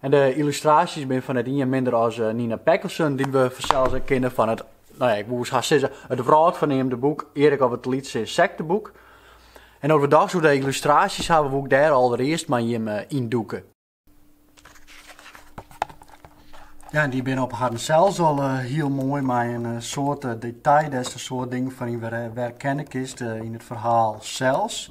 En de yllustraasjes binne fan net ien minder as eh, Nina Peckelsen, dy't we fansels ek kinne fan it, no ja, ik woe haast sizze, it wrâldferneamde boek Erik of it lytse ynsekteboek. En no't we dochs oer de yllustraasjes hawwe, woe ik dêr allerearst mei jimme eh, yn dûke. Ja, en dy binne op harren sels al eh, hiel moai mei in eh, soad eh, detail dêr't in soad dingen fan yn wer- eh, werkenne kinst eh, yn it ferhaal sels.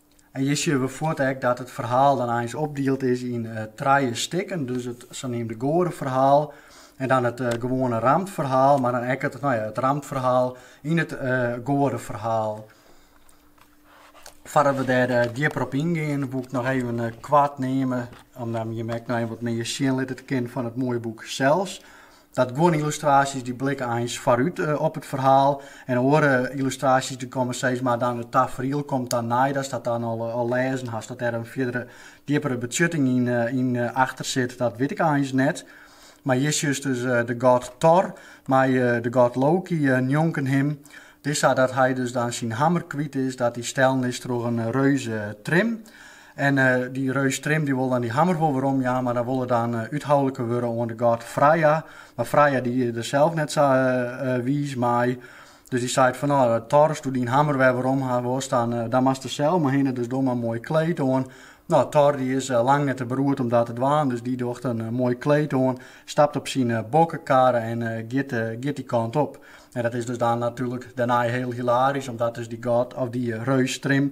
En hjir sjen we fuort ek dat it ferhaal dan eins opdield is yn eh, trije stikken. Dus it saneamde goadeferhaal en dan it eh, gewoane ramtferhaal, mar dan ek it, nou ja, it ramtferhaal yn it eh, goadeferhaal. Foardat we dêr eh, djipper op yngean, woe ik noch even eh, koart neame, om dan jim ek no even wat mear sjen litte te kinnen fan it moaie boek sels. Dat guon yllustraasjes dy't blikke eins foarút op it ferhaal en oare yllustraasjes dy't komme sis mar dan it tafriel komt dan nei datst dat dan al lêzen hast. Dat dêr in fierdere, djippere betsjutting yn achter sit, dat wit ik eins net. Mar hjir sjochst dus de god Thor mei de god Loki njonken him. It is sa dat hy dus dan syn hammer kwyt is, dat dy stellen is troch in reus eh, Trim. En dy reus Trim dy wol dan dy hammer wol werom jaan, mar dan wol er dan úthoulike wurde oan de god Freya. Mar Freya dy is der sels net sa wiis mei, dus dy seit fan, no Thor, as do dyn hammer wer werom ha wolst, dan moatst der sels mar hinne, dus doch mar in moai kleed oan. No, Thor dy is lang net te beroerd om dat te dwaan, dus dy docht in moai kleed oan, stapt op syn bokkekarre en giet dy kant op. En dat is dus dan natuerlik dêrnei hiel hilarysk, omdat dus dy god, of dy reus Trim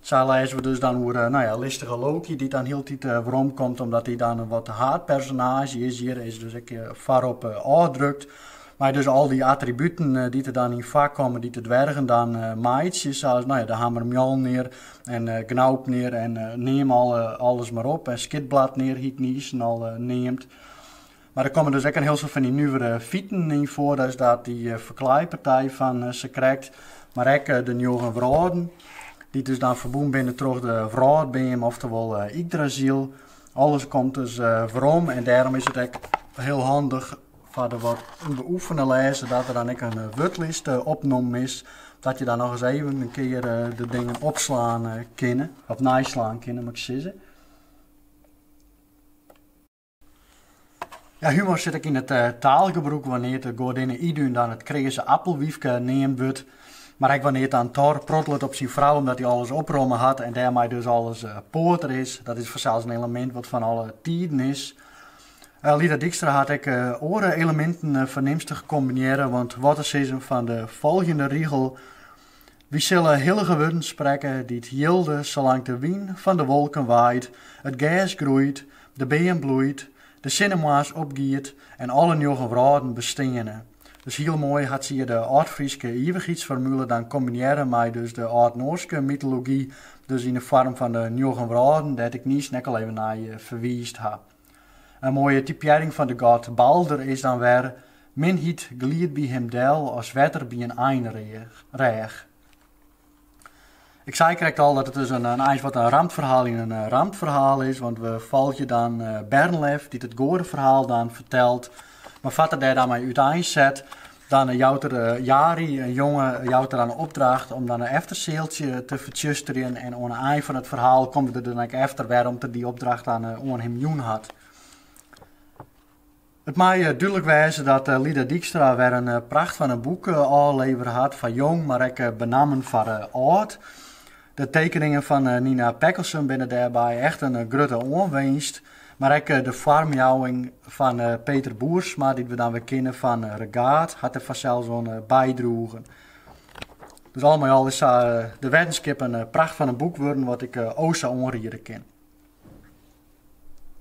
Sa lêze we dus dan oer nou ja, listige Loki dy't dan hieltyd weromkomt omdat hy dan in wat haadpersonaazje is. Hjir is dus ek foarop ôfdrukt. Mei dus al dy attributen dy't der dan yn foarkomme, dy't de dwergen dan meitsje. Sa as nou ja, de hammer Mjolnir en Gnaupnir en neam alles mar op. En Skidbladnir hie ik niis al neamd. Mar der komme dus ek in hiel soad fan dy nuvere fiten yn foar, dus dat dy ferklaaipartij fan sakrekt, mar ek de njoggen wrâlden, dy't dus dan ferbûn binne troch de wrâldbeam, oftewol Yggdrasil. Alles komt dus werom en dêrom is it ek hiel handich foar de wat ûnbeoefene lêzer dat der dan ek in wurdlist opnommen is, dat je dan nochris even in kear de dingen opslaan kinne, of neislaan kinne, moat ik sizze. Ja, humor sit ek yn it eh, taalgebrûk wannear't de goadinne Idun dan it kreaze appelwyfke neamd wurdt, mar ek wannear't dan Thor prottelet op syn frou omdat hy alles opromme hat en dêrmei dus alles eh, poater is. Dat is fansels in elemint wat fan alle tiden is. Eh, Lida Dykstra hat ek eh, oare eleminten eh, fernimstich kombinearre, want wat te sizzen fan de folgjende rigel, Wy sille hillige wurden sprekke dy't jilde salang't de wyn fan de wolken waait, it gers groeit, de beam bloeit, de sinne moarns opgiet en alle njoggen wrâlden besteane. Dus hiel moai hat sy hjir de Aldfryske ivichheidsformule dan kombinearre mei dus de Aldnoarske mytology, dus yn 'e foarm fan de njoggen wrâlden, dêr't ik niis ek al even nei ferwiisd ha. In moaie typearring fan de god Balder is dan wer, Minheid glied by him del as wetter by in einrêch. Ik sei krekt al dat it dus in eins wat in ramtferhaal yn in ramtferhaal is, want we folgje dan Bernlef dy't it goadeferhaal dan fertelt Mar foar't er dêr dan mei útein set, dan jout er Jari, in jonge, jout er dan 'e opdracht om dan in eftersealtsje te fertsjusterjen en oan 'e ein fan it ferhaal komt er der dan ek efter wêrom't er dy opdracht dan oan him jûn hat. It mei dúdlik wêze dat Lida Dykstra wer in pracht fan in boek ôflevere hat foar jong, mar ek benammen foar âld. De tekeningen fan Nina Peckelsen binne dêrby echt in grutte oanwinst, mar ek de foarmjouwing fan Peter Boersma, dy't we dan wer kinne fan Regaad, hat der fansels oan bydroegen. Dus al mei al is sa De Weddenskip in pracht fan in boek wurden wat ik o sa oanriede kin.